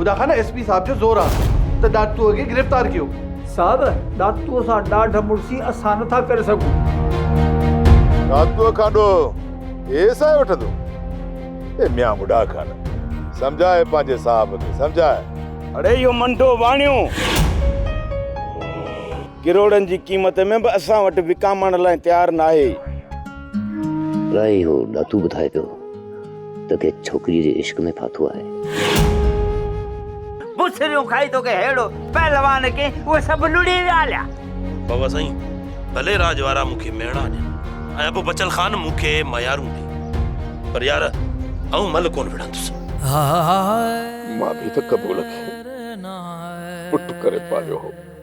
خدا Khan S P صاحب جو زور آ ته ڏاڪٽوء کي گرفتار ڪيو. صاحب ڏاڪٽوء سان ڏاڍ مڙسي اسان نٿا ڪري سگهون. ڏاڪٽوء کان ڏوهه اي ايس آء وٺندو. اي ميان بڊا خان سمجهاء پنهنجي صاحب کي سمجهاء. اڙي اهو منڊو واڻيو ڪروڙن جي قيمت ۾ به اسان وٽ وڪامڻ لاء تيار ناهي. اڙي اهو ڏاتو ٻڌائي پيو. تو کي ڇوڪريء جي عشق ۾ ڦاٿو آهي. بسريون کائي تو کي ههڙو پهلوان ڪين اهي سڀ لڙي ويا هليا. بابا سائين ڀلي راڄ وارا مون کي مهڻا ڏين ۽ ابو بچل خان مون کي ميارون ڏي پر يار آئون مل ڪونه وڙهندس. مان به ته قبول کي پٽ ڪري پاليو هو.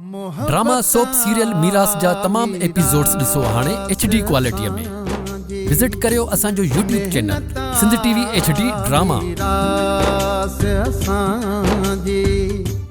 ڊراما سوپ سيريل ميراث جا تمام ايپيسوڊز ڏسو هاڻي ايڇ ڊي ڪوالٽيء ۾ وزٽ ڪريو اسان جو YouTube channel Sindh T V H D drama.